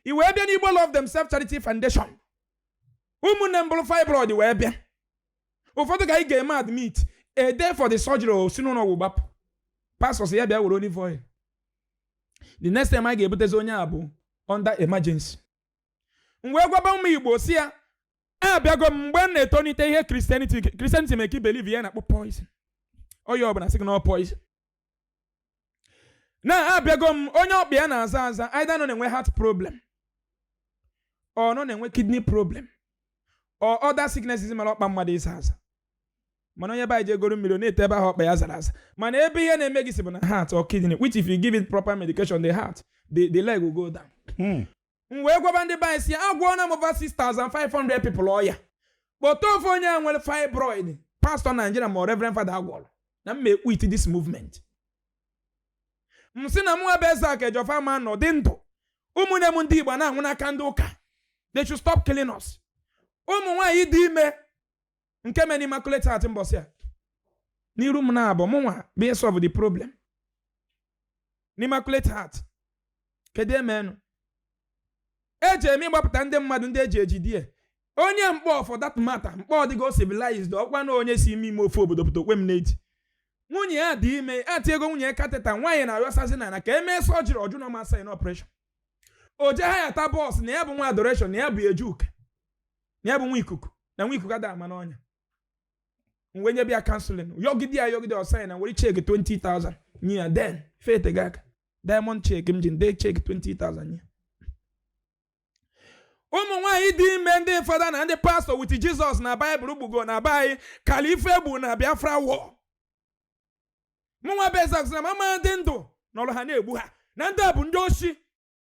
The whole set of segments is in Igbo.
i wee bịa n'Igbo Love Themselves Charity Foundation ụmụnne m buru fibroid wee bịa ụfọdụ ka anyị ga-eme admit a day for the surgery o si n'ụlọ ọgwụ gbapụ pastors ya bịa were olive oil the next time anyị ga-ebutezi onye a bụ under emergency m wee gwaba ụmụ igbo sị ha abịago m mgbe m na-etonite ihe Christianity Christianity make believe ya na-akpọ poison onye ọbụla sị gị na ọ poison na abịago m onye ọkpa ya na-aza aza either na ọ na-enwe heart problem or na ọ na-enwe kidney problem or other sicknesses mere ọkpa mmadụ ịza aza mana onye be anyị je goro mmiri ọ na-ete ebe ahụ ọkpa ya zara aza mana ebe ihe na-eme gị si bụ na heart or kidney which if you give it proper medication the heart the, the leg will go down Hmm. m wee gwaba ndị be anyị sị agwọọla m over 6500 people ọya kpọta ofu onye a nwere fibroid pastor Nigeria ma reverend father agwọrọ na m e-quit this movement m sị na mụnwa bụ Ezeaku Ejiofor ama anọ dị ndụ ụmụnne m ndị igbo na-anwụ n'aka ndị ụka they should stop killing us ụmụ nwaanyị dị ime nke mere n'Immaculate Heart mbọsị a n'iru m na-abụ mụnwa bụ solve the problem n'Immaculate Heart kedu emenụ eje m ịgbapụta ndị mmadụ ndị e ji ejide onye Nkpọ for that matter Nkpọ adịgo civilized ọkwa na onye si ime ime ofe obodo pụta okwe m n'eti nwunye ya dị ime e tigo nwunye ya catheter nwaanyị na-arịọsazi na na ka emee surgery ọ jụ na ọ ma sign operation o je hire-ta bus na ya bụ nwa adoration na ya bu eje Uke na ya bụ nwa ikuku na nwa ikuku ada ama n'ọnya m wee nyebe ya counselling yọgide ya yọgide ọ sign m were cheque 20,000 nye ya then fete gị aka Diamond cheque m ji dee cheque 20,000 nye ụmụ nwaanyị dị ime ndị fada na ndị pastor with Jesus na Bible gbugo na be anyị kalị ife e gbu na Biafra war mụnwa bụ Ezeaku na m ama adị ndụ nọrọ ha na-egbu ha na ndị a bụ ndị oshi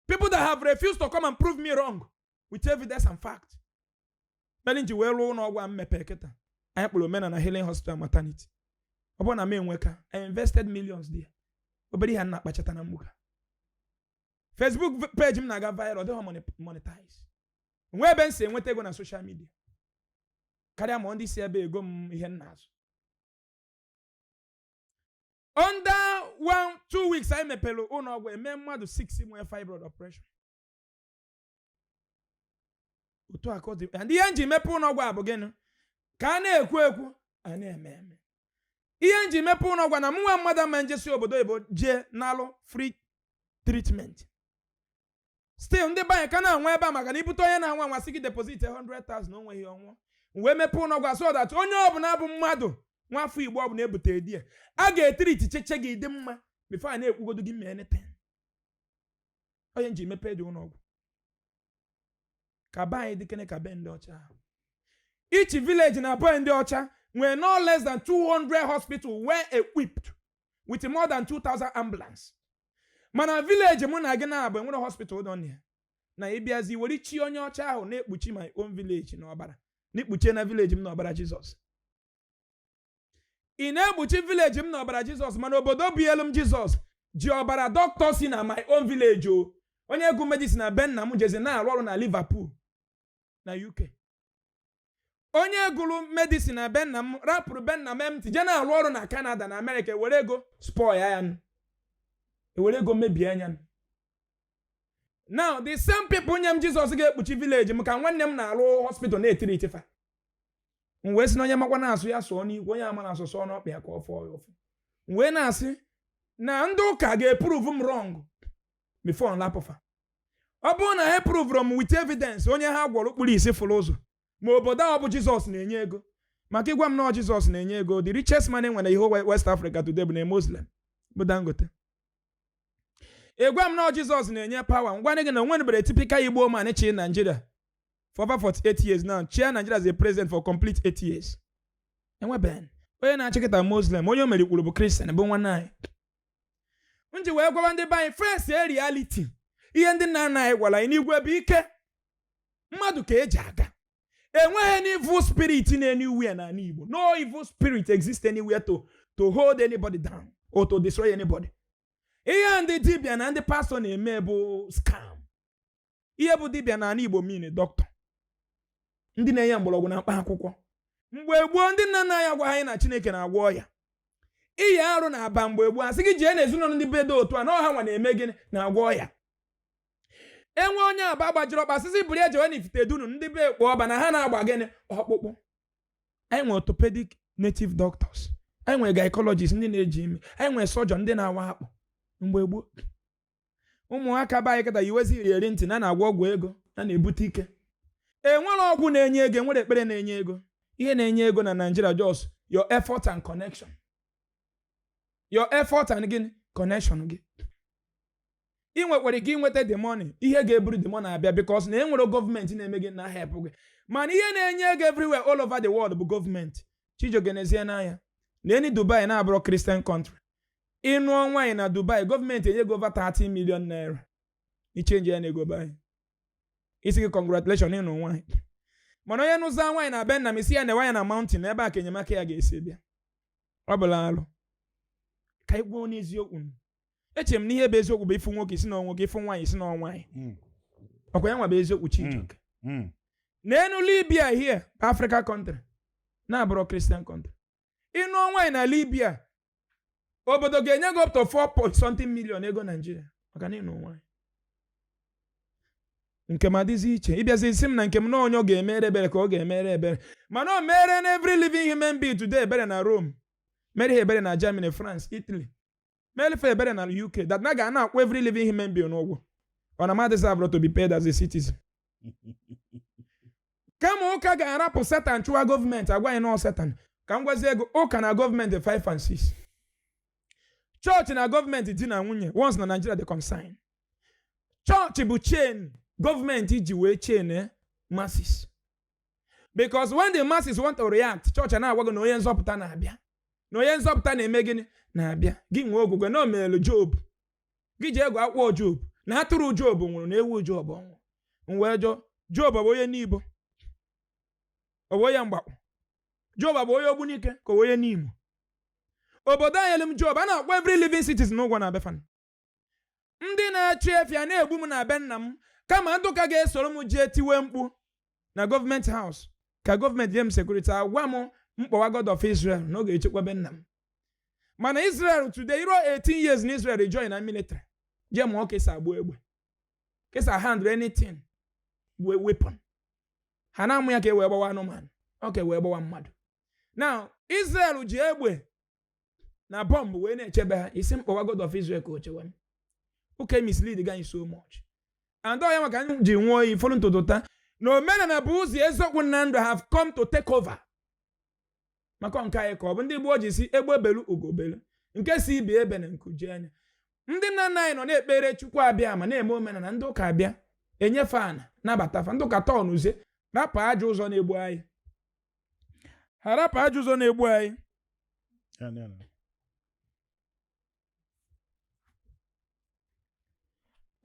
people that have refused to come and prove me wrong with evidence and fact mere m ji wee rụọ ụlọ ọgwụ a m mepe kịta anyị kpọrọ omenala healing hospital maternity ọ bụrọ na m enweka i invested millions there obere ihe a na-akpachata na mgbuka facebook v- page m na-aga viral ọ dịghọ moni- monetize nwee ebe m si enweta ego na social media karịa ma ndị si ebe ego m ihe m na-azụ under one two weeks anyị mepere ụlọ ọgwụ eme mmadụ 6 nwee fibroid operation otu a ka ọ dị and ihe m ji mepe ụlọ ọgwụ a bụ gịnị ka a na-ekwu ekwu a na-eme eme ihe m ji mepe ụlọ ọgwụ a na mụ nwa mmadụ ama njesi obodo oyibo jee nalụ free treatment still ndị be anyị ka na-anwụ ebe a maka na ibute onye na-anwụ anwụ asị gị deposit 100,000 o nweghị ọ nwụọ wee mepee ụlọ ọgwụ so that onye ọbụla bụ mmadụ nwafọ igbo ọbụla ebute dịa a ga-etriticheche gị dị mma bifo a na-ekwugodo gị mee anything onye nji mepee ụdị ụlọ ọgwụ ka be anyị dịkene ka be ndị ọcha ahụ. each village na be ndị ọcha nwere no less than 200 hospital well equipped with more than 2000 ambulance mana vileji mụ na gị na-abụ enwerọ hospital dị na ya na ịbịazi were chi onye ọcha ahụ na-ekpuchi my own village n'ọbara na-ekpuchie na vileji m n'ọbara jizọs ị na-ekpuchi vileji m n'ọbara jizọs mana obodo bunyelu m jizọs ji ọbara dọkịta si na my own village o onye gụrụ medicine na be nna m jezi na-arụ ọrụ na liverpool na uk onye gụrụ medicine na be nna m rapụrụ be nna m empty je na-arụ ọrụ na kanada na amerịka ewere ego spoil ya nụ ewere ego mebie anya nụ now the same people nye m jizọs ga-ekpuchi vileji m ka nwanne m na-arụ hospital na-etriti fa m wee sị na onye makwa na-asụ ya sụọ n'ikwe onye ama na-asụ sụọ n'ọkpa ya ka ọ fụọ ya ụfụ m wee na-asị na ndị ụka ga-epruvu m rọng bifo m rapụ fa ọ bụrụ na ha prụvụrụ m with evidence onye ha gwọrọ kpuru isi fụrụ ụzọ ma obodo ọ bụ jizọs na-enye ego maka ịgwa m na jizọs na-enye ego the richest man enwere in west africa today bụ onye muslim bụ dangote ịgwa m na jizọs na-enye pawa m gwa gị na onweberọ tipikal igbo man chị naijiria for over 48 years now chịa naijiria as a president for complete 8 years enweben onye na-achị kịta muslim onye o merikwuru bụ kristian bụ nwanne anyị m ji wee gwaba ndị be anyị fesie rialiti ihe ndị nna nna anyị gwara anyị n'igwe bụ ike mmadụ ka eji aga enweghị any evil spirit in anywhere na ala igbo no evil spirit exist anywhere to to hold anybody down or to destroy anybody ihe ndị dibịa na ndị pastọ na-eme bụ scam ihe bụ dibịa na ala igbo mean dọkịta ndị na-enye mgbọrọgwụ na mkpa akwụkwọ mgbe gboo ndị nna nna anyị agwa anyị na chineke na-agwọ ọya ịyịa arụ na aba mgbe gboo asị gị jee n'ezinụlọ ndị be dị otu a na ọ ha nwa na-eme gịnị na-agwọ ọya enwee onye aba gbajiri ọkpa asị sị buru ya jewe na ifite dunu ndị be ekpo ọba na ha na-agba gịnị ọkpụkpụ anyị nwere orthopedic native doctors anyị nwere gynecologist ndị na-eji ime anyị nwere surgeon ndị na-awa akpụ mgbe gboo ụmụaka be anyị kịta yiwezi iyeri ntị na na-agwọ ọgwụ ego na na-ebute ike enwerọ ọgwụ na-enye ego enwerọ ekpere na-enye ego ihe na-enye ego na Nigeria just your effort and connection your effort and gịnị connection gị ị nwekwara ike inweta the money ihe ga-eburu the money abịa because na enwerọ gọọmenti na-eme gịnị na-ehelp gị mana ihe na-enye ego everywhere all over the world bụ gọọmenti Chijioke nezie anya na-ene Dubai na-abụrọ Christian country ị nụọ nwaanyị na dubai gọọmenti enye gị over 30 million naira i chenji ya na ego be anyị a sị gị congratulation ịnụ nwaanyị mana onye nụzia nwaanyị na be nna m ị sị ya na nwaanyị na mountain ebe a ka enyemaka ya ga-esi bịa ọ bụrọ alụ ka anyị kwuo n'eziokwu nụ. eche m na ihe bụ eziokwu bụ ị fụ nwoke ị sị na nwoke ị fụ nwaanyị ị sị na nwaanyị Mm, ọkwa ya nwa bụ eziokwu chijioke mm. neenụ libya here bụ africa country na-abụrọ christian country ị nụọ nwaanyị na libya obodo ga-enye gị up to 4 point something million ego naijiria maka na ịnụ nwaanyị nke m adịzi iche ị bịazi sị m na nke m na onye ọ ga-emere ebere ka ọ ga-emere ebere mana o mere na every living human being today ebere na rome mere ha ebere na germany france italy Meelụ fa ebere na UK that na ga na-akwụ every living human being ụgwọ ọ na m adeserverọ to be paid as a citizen kama ụka ga-arapụ setan chụwa gọọmenti agwa anyị na ọ setan ka m gwazie gị ụka na gọọmenti 5 and 6 chọọchị na gọọmenti di na nwunye once na Nigeria dị concerned chọọchị bụ chain gọọmenti ji wee chain eh, masses because when the masses want to react chọọchị na-agwa gị na onye nzọpụta na-abịa na onye nzọpụta na-eme gịnị na-abịa gị nwee okwukwe na o meelụ job gị jee gụọ akwụkwọ job na atụrụ job nwụrụ na ewu job nwụrụ m wee jụọ job ọ bụ onye nibo ọ bụ onye mgbakwu job ọ bụ onye ogbunike ka ọ bụ onye nimo obodo nyelụ m job a na-akwụ every living citizen ụgwọ na be fa ndị na-achụ efi a na-egbu m na be nna m kama ndị ụka ga-esoro m jee tiwe mkpu na gọọmenti house ka gọọmenti nye m sekuriti agwa m kpọwa god of israel na ọ ga-echekwa be nna m mana israel today i ruo 18 years na israel ị join na military jee mụọ ka e si agba egbe ka e si ahandle anything bụ weapon ha na-amụ ya ka e wee gbawa anụmanụ ọ ka e wee gbawa mmadụ na israel ji egbe na bọmbụ wee na-echebe ha ị sị m kpọwa God of Israel ka o chewe m ụka misleadigo anyị so much and ọ ya maka m ji nwụọ iyi fọrọ n'ụtụtụ taa na omenala bụ ụzọ eziokwu na ndụ have come to take over maka nke anyị ka ọ bụ ndị gboo ji sị egbe belu ugo belu nke sị ibe ya ebena nku jie ya ndị nna nna anyị nọ na-ekpere chukwu abiama na-eme omenala ndị ụka abịa enye fa ana nabata fa ndị ụka tọnụzie rapụ ajọ ụzọ na-egbu anyị ha rapụ ajọ ụzọ na-egbu anyị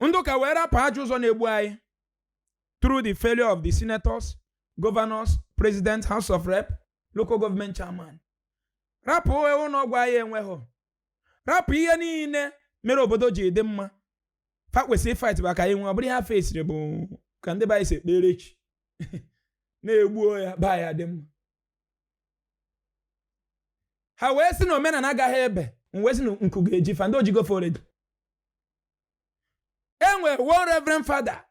ndị ụka wee rapụ ajọ ụzọ na-egbu anyị through the failure of the senators governors president house of rep local government chairman rapụ ụlọ ọgwụ anyị enweghị rapụ ihe niile mere obodo ji dị mma fa kwesịrị ịfight back anyị nwe ọ bụrụ ihe ha fesiri bụ ka ndị be anyị si ekpere chi na-egbuo ya ba ọ ya-adị mma ha wee sị na omenala agaghị ebe m wee sị na ụkwụ ga-eji fa and o jigo fa already e nwere one reverend father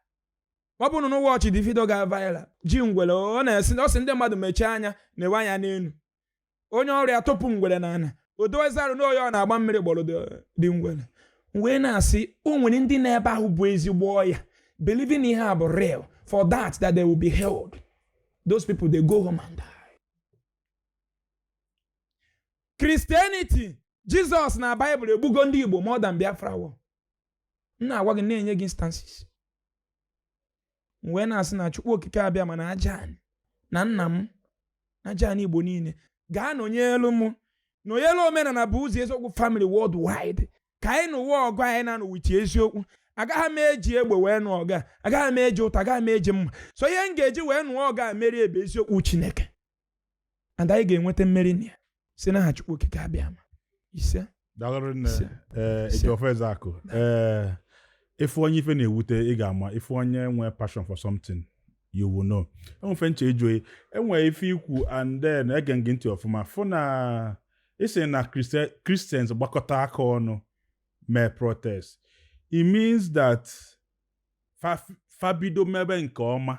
ọ bụ na unu watchị the video ga viral ji ngwere ọ na-esi ọ sị ndị mmadụ mechie anya na-ewe anya n'elu onye ọrụ ya tụpụ ngwere n'ana o dozi arụ na onye ọ na-agba mmiri gbọrọ the- the ngwere wee na-asị o nwere ndị nọ ebe ahụ bu ezigbo ọya believe na ihe a bụ real for that that they will be healed those people they go home and die Christianity Jizọs na Baịbụl egbugo ndị Igbo more than Biafra war m na-agwa gị na-enye gị instances m wee na-asị na Chukwu Okike Abịama na aja ani na nna m na aja ani Igbo niile ga-anọnyelu m nọnyelu omenala bụ ụzọ eziokwu family worldwide ka anyị nụwa ọgụ anyị na-anụ with eziokwu agaghị m eji egbe wee nụ ọgụ a agaghị m eji ụta agaghị m eji mma so ihe m ga-eji wee nụọ ọgụ a merie bụ eziokwu Chineke and anyị ga-enweta mmeri na ya si n'aha Chukwu okike Abịama ise daalụ rinne Ise. ee Ise. Ejiọfọ Ezeakụ ee ị fụ onye ife na-ewute ị ga-ama ị fụ onye nwee passion for something you will know e nwe ife m chọ ịjụ gị e nwee ife i kwu and then ege m gị ntị ọfụma fụ na ị sị na Christi- Christians gbakọta aka ọnụ mee protest it means that fa- fabido mebe nke ọma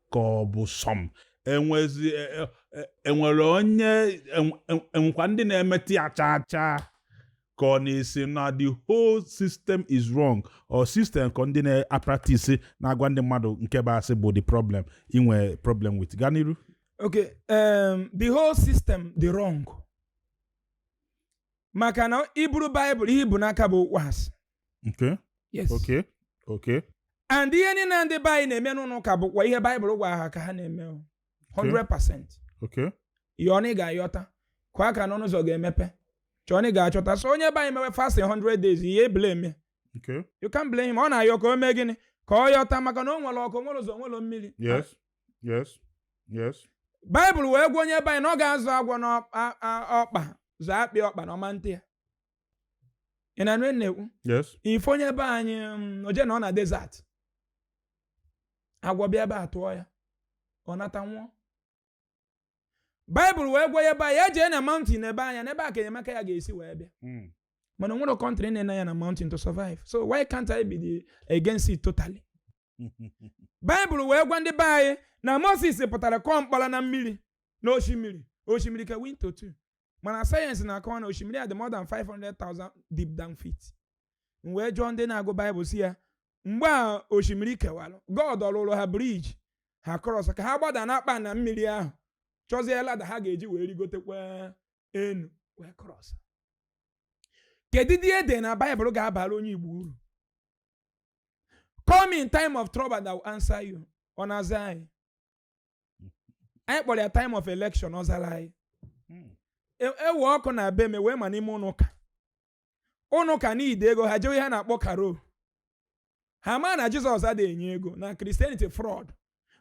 ka ọ bụ some enwezi e, e, e, enwere onye enwekwa ndị na-emeta ya chaa chaa ka ọ na ị sị na the whole system is wrong or system ka ndị na-apractice na-agwa ndị mmadụ nke bụ asị bụ the problem i nwe problem with gaa n'iru okay um, the whole system dị wrong maka na i buru baịbụl ihe i bu n'aka bụ okwu asị Okay. yes Okay. Okay. and ihe niile ndị be anyị na-eme n'ụlọ ụka bụkwa ihe baịbụl gwara ha ka ha na-eme o. 100% Okay. yọọ na ị ga-ayọta kụọ aka n'ọnụ ụzọ ga-emepe chọọ na ị ga-achọta so onye be anyị mewe fasting 100 days ị ya-eblame Okay. you can't blame him ọ na-ayọ ka o mee gịnị ka ọ yọta maka na o nwere ọkụ nwere ụzọ nwere mmiri Yes. Yes. Yes. baịbụl wee gwa onye be anyị na ọ ga-azọ agwọ n'ọkpa zọ akpị ọkpa na ọ ma atụ ya ị na-anụ na-ekwu ị fụ onye be anyị mm, o jee nọọ na desert agwọ bịa ebe a tụọ ya ọ nata nwụọ baịbụl wee gwa ya ba ya jee na mountain nebe anya na ebe a ka enyemaka ya ga-esi wee bịa hmm. mana o nwere country na-ene anya na mountain to survive so why can't I be the against it totally baịbụl wee gwa ndị be anyị na Moses pụtara kụọ mkpọrọ na mmiri na osimiri osimiri kewa into two mana sayensị na-akọwa na osimiri a dị more than 500,000 deep down feet m wee jụọ ndị na-agụ baịbụl sị ya mgbe a osimiri kewara god ọ lụlụ ha bridge ha cross ka ha gbada n'akpa na mmiri ahụ chọzie ladder ha ga-eji wee rigotekwa enu wee cross kedu ụdị ihe dị na baịbụl ga-abara onye igbo uru call me in time of trouble i will answer you ọ na-aza anyị anyị kpọrọ ya time of election ọ zara anyị hmm. e, ewe ọkụ na be me wee ma n'ime ụnọ ụka ụnọ ụka need ego ha jewe ihe a na-akpọ carol ha ma na jizọs adịghị enye ego na christianity fraud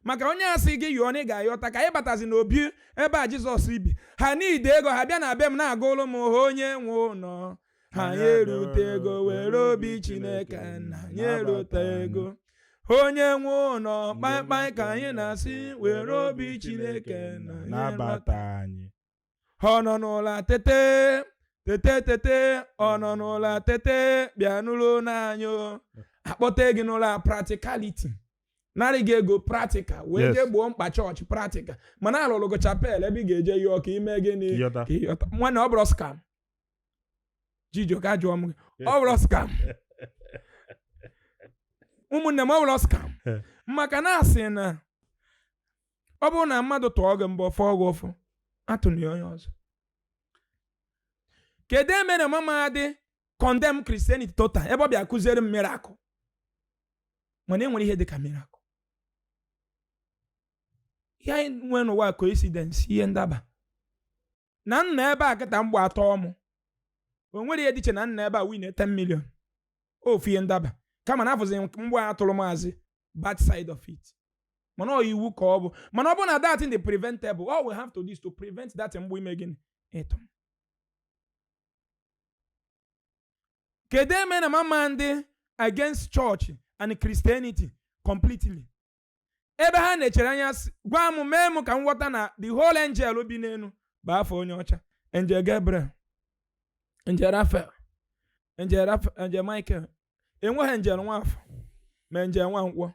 maka onye a sị gị yọọ na ị ga-ayọta ka anyị batazi n'obi ebe a jizọs bi ha need ego ha bịa na be m na-agụlụ m onye nwe ụlọ ha anyị erutego were obi chineke na anyị erutego onye nwe ụlọ kpaịkpaị ka anyị na-asị were obi chineke nna nabata anyị ọ nọ n'ụla tete tete tete ọ nọ n'ụla tete bịa nụlụ onu anyị o. a kpọtee gị n'ụla practicality nara gị ego practical wee Yes. jee gboo mkpa chọọchị practical mana a lụlụ gị chapel ebe ị ga-eje yọọ ka i mee gịnị Yọta. ka ị yọta nwanne ọ bụrọ scam Chijioke ajụọ m gị ọ bụrọ scam ụmụnne m ọ bụrọ scam maka na a sị na ọ bụrụ na mmadụ tụọ gị mbọ ọ fụọ gị ụfụ atụna ya onye ọzọ kedu ihe mere m ama adị condemn christianity total ebe ọ bịa kụziere m miracle mana enwerọ ihe dịka miracle ihe anyị nwere n'ụwa coincidence ihe ndaba na m nọ ebe a kịta mgbọ atụọ mụ o nwere ihe dị iche na m nọ ebe a win 10 million ofu ihe ndaba kama na a fụzi mgbọ a tụrụ m as bad side of it mana ọ iwu ka ọ bụ mana ọ bụrụ na that thing dị preventable all we have to do is to prevent that mgbọ ime gịnị ịtụ kedu ihe mere na m ama adị against church and christianity completely ebe ha nechara anya sị gwa m mee m ka m ghọta na the whole angel bi n'enu bụ afa onye ọcha angel gabriel angel raphael angel michael enweghị angel nwafọ ma angel nwankwọ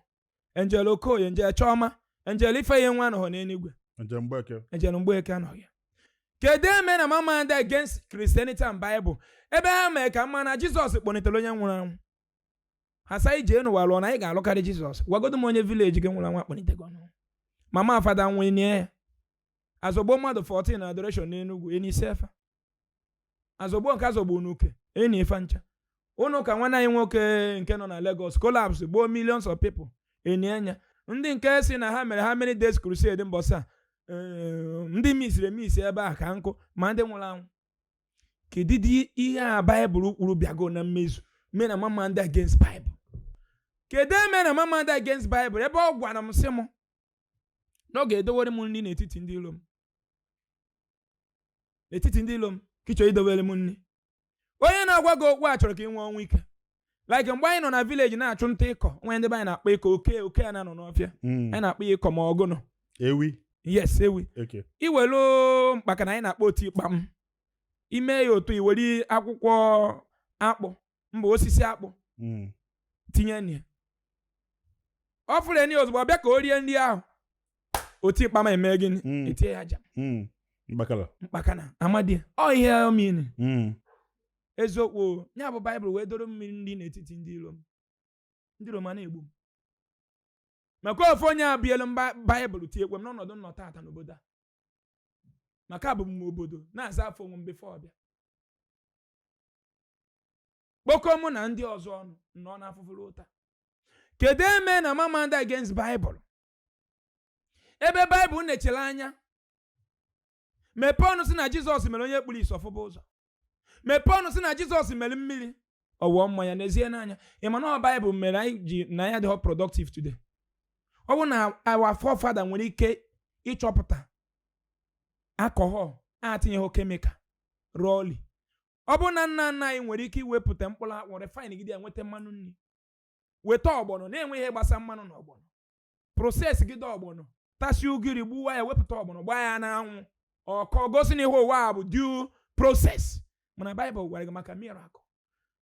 angel okoye angel chioma angel ifeyinwa anọghị n'eluigwe angel mgbeke angel mgbeke anọghị ya kedu ihe mere na m ama adị against christianity and bible ebe ha mere ka m ma na jizọs kpọnitere onye nwụrụ anwụ ha sị jee n'ụwa lụọ na anyị ga-alụkarị jizọs gwagodo m onye village gị nwụrụ anwụ a kpọlitego n'ọnwụ mama fada nwụọ e nie ya azọgbo mmadụ 14 na adoration n'enugwu e nisie fa azọgbo nke azọgbo n'uke e nie fa ncha ụnọ ụka nwanne anyị nwoke nke nọ na Lagos collapse gbuo millions of people e nie nya ndị nke sị na ha mere how many days crusade mbọsa eh, ndị misiri emisi ebe a ka nkụ ma ndị nwụrụ anwụ kedụdị ihe a baịbụl kwuru bịago na mmezu me na m ama adị against baịbụl kedu ihe me na m ama adị against baịbụl ebe ọ gwara m sị m na ọ ga-edowere m nri n'etiti ndị ilo m n'etiti ndị ilo m ka ị chọ idowere m nri onye na-agwa gị okwu a chọrọ ka ị nwụọ ọnwụ ike like mgbe anyị nọ na village na-achụ nta ịkọ o nwe ndị be anyị na-akpọ ịkọ oke oke a na-anọ n'ọfịa mm. anyị na-akpọ ya ịkọ ma ọ gụnụ ewi yes ewi iwelu mkpakana anyị na-akpọ otikpam ime ya otu iwere akwụkwọ akpụ mba osisi akpụ mm. tinye na ya ọ fụrụ nri ozugbo ọ bịa ka o rie nri ahụ otikpam eme gịnị mm. etie ya aja mkpakana amadi ọ ihe omini eziokwu nya bụ baịbụl wee doro m nri n'etiti ndị iro m ndị iro m a na-egbu m maka ofu onye a bielu m Ba- baịbụl tiekwe m n'ọnọdụ m nọ tata n'obodo a maka abụ m nwa obodo na-aza afa onwe m before ọ bịa kpokọ mụ na ndị ọzọ ọnụ nọ n'afụfụ ruo taa kedu ihe me na m ama adị against baịbụl ebe baịbụl nechara anya mepee ọnụ sị na jizọs mere onye kpuru isi ọ fụba ụzọ mepee ọnụ sị na jizọs mere mmiri ọ wụọ mmanya n'ezie n'anya ị ma na ọ baịbụl mere anyị ji na anyị adịghọ productive today ọ bụrụ na our forefather nwere ike ịchọpụta alcohol atinyeghị chemical rawly ọ bụrụ na nna nna anyị nwere ike iwepụta mkpụrụ akwụ refine gide ya nweta mmanụ nri weta ọgbọnọ na-enweghị ihe gbasa mmanụ na ọgbọnọ process gide ọgbọnọ tasi ugiri gbuwa ya wepụta ọgbọnọ gbaa ya n'anwụ ọ kọọ gosi na ihe ụwa a bụ due process mana baịbụl gwara gị maka miracle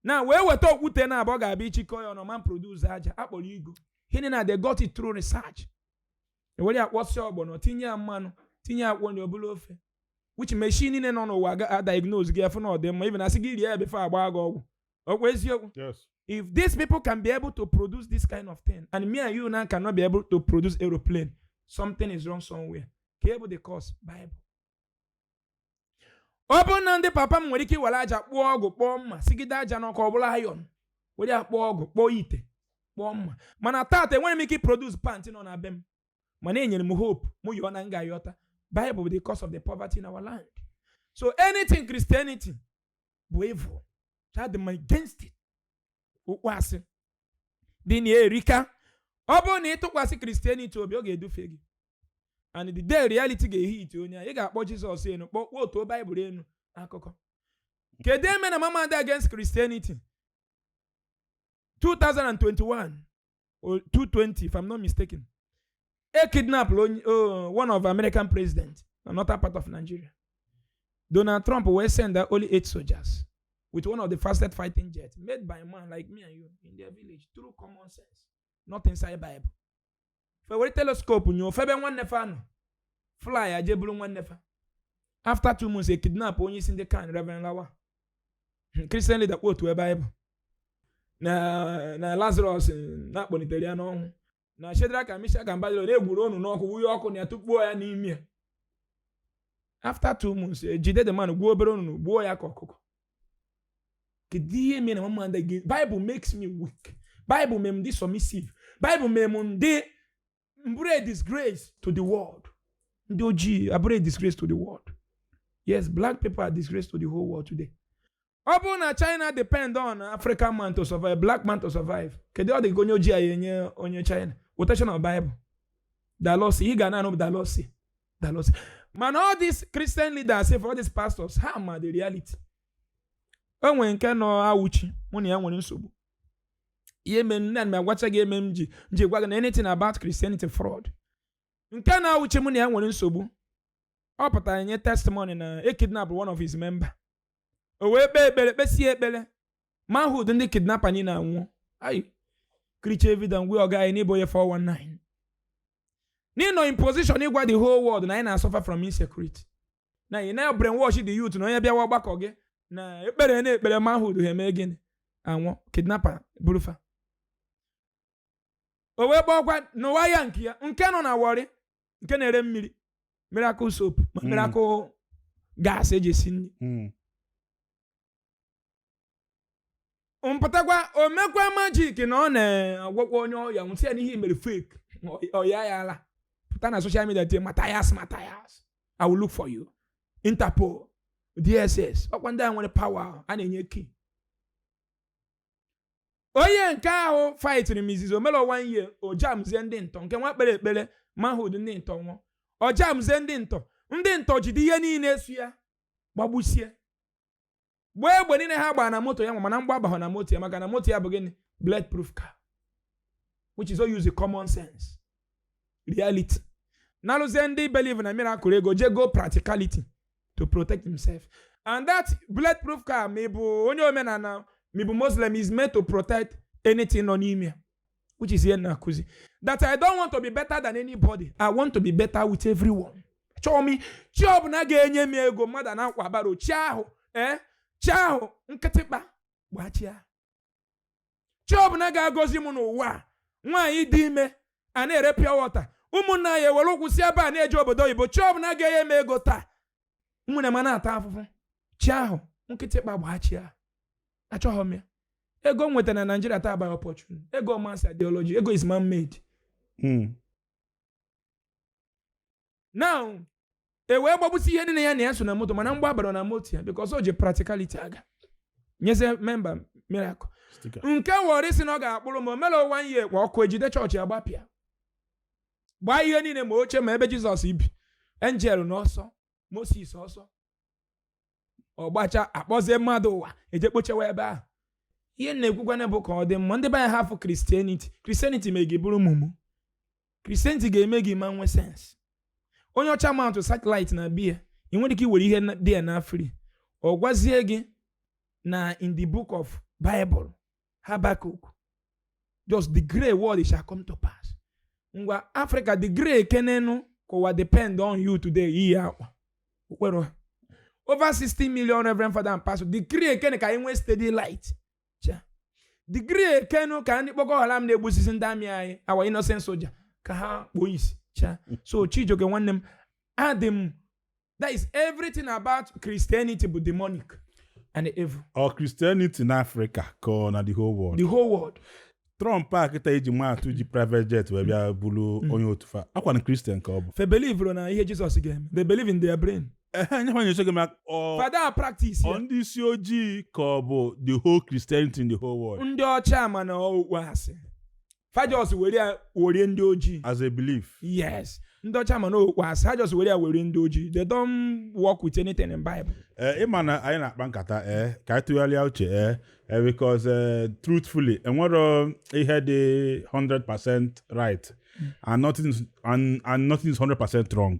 na wee weta okwute naabọ ga-abịa ichikọ ya ọnụ ma produce aja akpọrọ igu hini na they got it through research ewere ya kwọsịa ọgbọnọ tinye ya mmanụ tinye ya akwụkwọ nri ọ bụrụ ofe which machine niile nọ n'ụwa ga- a diagnose gị afụ na ọ dị mma even asị gị rie ya before agba gị ọgwụ ọkwa eziokwu if these people can be able to produce this kind of thing and me and you now cannot be able to produce aeroplane something is wrong somewhere kee ihe bụ the cause bible ọ bụrụ na ndị papa m nwere ike iwere aja kpụọ ọgụ kpụọ mma sigide aja n'ọkụ ọ bụlụ iron were ya kpụọ ọgụ kpụọ ite kpụọ mma mana taata enwerọ m ike produce pant nọ na be m mana enyere m hope mụ yọọ na m ga-ayọta Bible bụ the cause of the poverty in our land so anything Christianity bụ evil adị m against it okwu asị dị na ya erika ọ bụrụ na ị tụkwasị kristianity obi ọ ga-edufu gị and the day reality ga-ehit onye a ị ga-akpọ jizọs enu kpọọ kwootu baịbụl enu akụkọ kedu ihe mere na m ama adị against christianity 2021 220 if I'm not mistaken e kidnap onye oh, one of American president na northern part of Nigeria Donald Trump wee send only eight soldiers with one of the fastest fighting jets made by a man like me and you in their village through common sense not inside Bible fe were telescope nyoo febe nwanne fa nọ fly aje bụrụ nwanne fa after two months e kidnap onye isi ndị kan Reverend Lawa kristian lida kwootuo bible na lazarọs na a kpọlitere ya n'ọnwụ na shedrak mishak abednego na e gwuru ọnụ n'ọkụ wunye ọkụ na ya tụkpuo ya n'ime ya after two months e jide the man gwuo obere ọnụ gbuo ya ka ọkụkọ kedu ihe mere na m ama adị bible makes me weak bible mere m dị submissive bible mere m dị m bụrụ a disgrace to the world ndị ojii abụrụ a disgrace to the world yes black people are disgrace to the whole world today ọ bụrụ na china depend on african man to survive black man to survive kedu ọ dị ka onye ojii anyị enye onye china quotation na bible the lord sị ị ga na-anụ the lord sị the lord sị mana all these christian leaders sef all these pastors ha ma the reality o nwere nke nọ auchi mụ na ya nwere nsogbu ihe mere na m agwacha gị ihe mere m ji gwa gị na anything about Christianity fraud nke nọ auchi m na ya nwere nsogbu ọ pụtara nye testimony na e kidnap one of his member o wee kpee ekpere kpesie ekpere manhood ndị kidnapa niile anwụọ ayi kricha evidence gwe ọga anyị na ị bụ onye 419 na ị nọ in position ịgwa the whole world na anyị na-asuffer from insecurity na ị na-ebrainwash the youth na onye bịawa ọgbakọ gị na ekpere na ekpere manhood ha eme gịnị anwụ kidnapper buru fa o wee gbakwa n'ụwa ya nke ya nke nọ na warri nke na-ere mmiri miracle soap ma Mm. miracle gas eji esi nri Mm. mpụtakwa o mekwa majik na ọ na-agwọkwa onye ọya m wee sị ya na ihe o mere fake ọya ya ala pụta na soshal midia tie mathias mathias i will look for you interpol dss ọkwa ndị a nwere pawa a na-enye ki onye nke ahụ faitiri m izizi o mero one year ọ jamzie ndị ntọ nke nwa kpere ekpere manhood ndị ntọ nwụọ ọ jamzie ndị ntọ ndị ntọ jide ihe niile so ya gbagbusie gbaa egbe niile ha gbaa na moto ya nwa mana mgba abaghọ na moto ya maka na moto ya bụ gịnị bulletproof car which is ọ use common sense reality na-alụzi ndị believe na miracle ego jee gọọ practicality to protect himself and that bulletproof car ma ị bụ onye omenala ma ị bụ muslim is meant to protect anything nọ n'ime ya which is ihe m na-akụzi that i don't want to be better than anybody i want to be better with everyone chọọ m chi ọbụla ga-enye m ego mmadụ na-akwa baro chi ahụ ee chi ahụ nkịtịkpa gbaa chi a chi ọbụla ga-agọzi m n'ụwa a nwaanyị dị ime a na-ere pure water ụmụnna ya ewere ụkwụ si ebe a na-eje obodo oyibo chi ọbụla ga-enye m ego taa nwanne m a na-ata afụfụ chi ahụ nkịtịkpa gbaa chi ahụ achọghị m ya ego m nwetara na naijiria taa by opportunity ego ọ man's ideology ego is man made hmm. now e wee gbagbusi ihe niile ya na ya so na moto mana mgbọ abaro na moto ya because o ji practicality aga nyezie member miracle nke Warri si na ọ ga-akpụrụ m o mero one year kwa ọkụ ejide chọọchị a gbapịa gbaa ihe niile ma oche ma ebe jizọs bi enjel n'ọsọ moses ọsọ ọ gbacha akpọzie mmadụ ụwa eje kpochewa ebe ahụ ihe m na-ekwukwanụ bụ ka ọ dị mma ndị be anyị hafụ kristianity kristianity mee gị bụrụ mumu kristianity ga-eme gị ị ma nwee sense onye ọcha mount satellite n'ebe a ị nwere ike iwere ihe dị ya na free ọ gwazie gị na in the book of bible Habakkuk just decree word shall come to pass ngwa Africa decree kenenu ka ụwa depend on you today iyi akwa okpere ha over 60 million reverend father and pastor decree kene ka anyị nwee steady light Cha. decree kenu ka ndị Boko Haram na-egbusisi ndị army anyị our innocent soldier ka ha kpuo isi Cha. so Chijioke nwanne m adị m that is everything about christianity bụ demonic and evil ọ christianity na afrịka ka ọ na the whole world the whole world trump a kịta iji maa atụ ji private jet wee bịa bulu onye otu fa akwa na christian ka ọ bụ fa believe na ihe jizọs ga-eme they believe in their brain ehe nye fanye chọgị maka ọ fa ada practice ọ ya ndị isi ojii ka ọ bụ the whole christianity in the whole world ndị ọcha ma na okwu asị fa just were ya were ndị ojii as a belief yes ndị ọcha ma n'okwu asị ha just were ya were ndị ojii they don't work with anything in bible ee eh, ịma na anyị na-akpa nkata ee eh, ka anyị tụgharịa uche ee eh, because truthfully enwero ihe dị 100 percent right and nothing and, and nothing is 100 percent wrong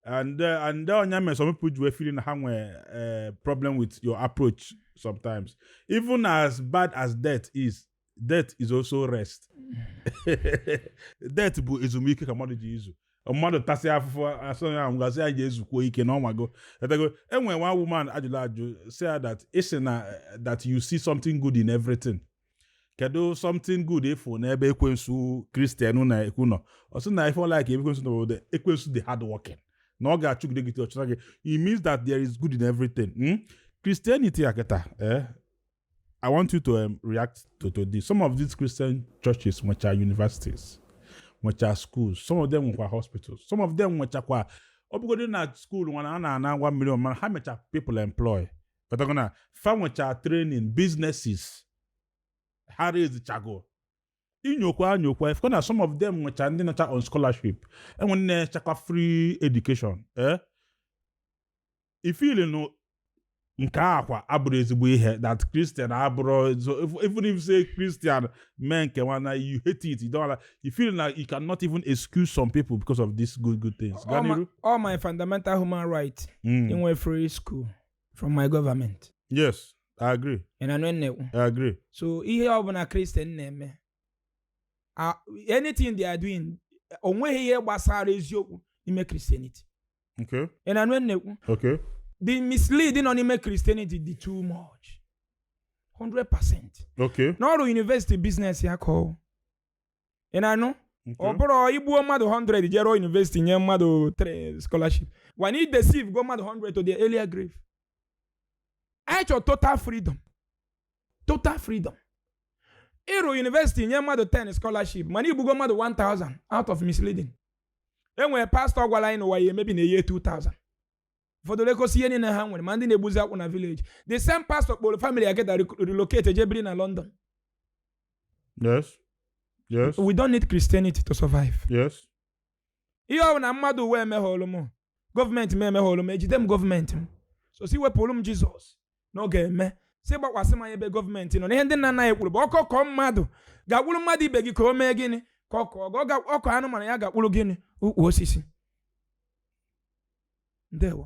and uh, and ọ ya mere some people ji wee feel na ha nwee uh, problem with your approach sometimes even as bad as death is death is also rest death bụ ezumike ka mmadụ je izu mmadụ tasị afụfụ a sị ya ahụ gasị ya jee zukwuo ike na ọ nwago o tego e nwe one woman a jụrụ ajụjụ sị ya that ị sị na that you see something good in everything kedu something good ị fụ n'ebe ekwensu kristian na-ekwu nọ ọ sị na ife ọ like ekwensu na ọ bụ na ekwensu dị hard working na ọ ga-achụgide gị ọchụta gị it means that there is good in everything hmm? christianity a kịta eh? I want you to um, react to, to this. Some of these Christian churches, which are universities, which are schools, some of them were hospitals, some of them were chakwa. Obugodo na school one and na one million man, how much are people employ? But they're gonna farm which are training businesses. How is the chago? inyokwa anyokwa ifekọ na some of them nwecha ndị nọcha on scholarship enwe nne chakwa free education eh? ị feel na nke a kwa abụrọ ezigbo ihe that Christian abụrọ even if say Christian mee nke nwana you hate it you don't like you feel like you cannot even excuse some people because of these good good things. Ọ my, ọ my fundamental human rights mm. inwe free school from my government. Yes, I agree. Ị na-anụ I agree. So ihe ọbụla Christian na-eme anything they are doing onweghị ihe gbasara eziokwu n'ime Christianity. Okay. ị na-anụ ihe m na-ekwu Okay. the mislead nọ n'ime christianity dị too much 100 percent Okay. na ọ rụ university business ya ka ọ ị na-anụ ọ Okay. bụrụ i gbuo mmadụ 100 je rụọ university nye mmadụ 3 scholarship when ị deceivego mmadụ 100 to their early grave anyị chọrọ total freedom total freedom ị rụọ university nye mmadụ 10 scholarship mana i gbugo mmadụ 1000 out of misleading e nwere pastọ gwara anyị na ụwa ya-emebi na year 2000 ụfọdụ lekọsị ihe niile ha nwere ma ndị na-egbuzi akwụ na village the same pastor kpọrọ family ya kịta relocate je biri na london yes yes we don't need christianity to survive yes ihe ọ bụla mmadụ ụwa emeghọlụ m gọọmenti m emeghọlụ m ejide m gọọmenti m so sị wepụrụ m jizọs na ọ ga-eme sị gbakwasị m anya ebe gọọmenti nọ na ihe ndị nna nna anyị kwuru bụ ọkọ kọọ mmadụ gakwuru mmadụ ibe gị ka o mee gịnị ka ọ kọọ ọkọ anụmanụ ya gakwuru gịnị ukwu osisi ndewo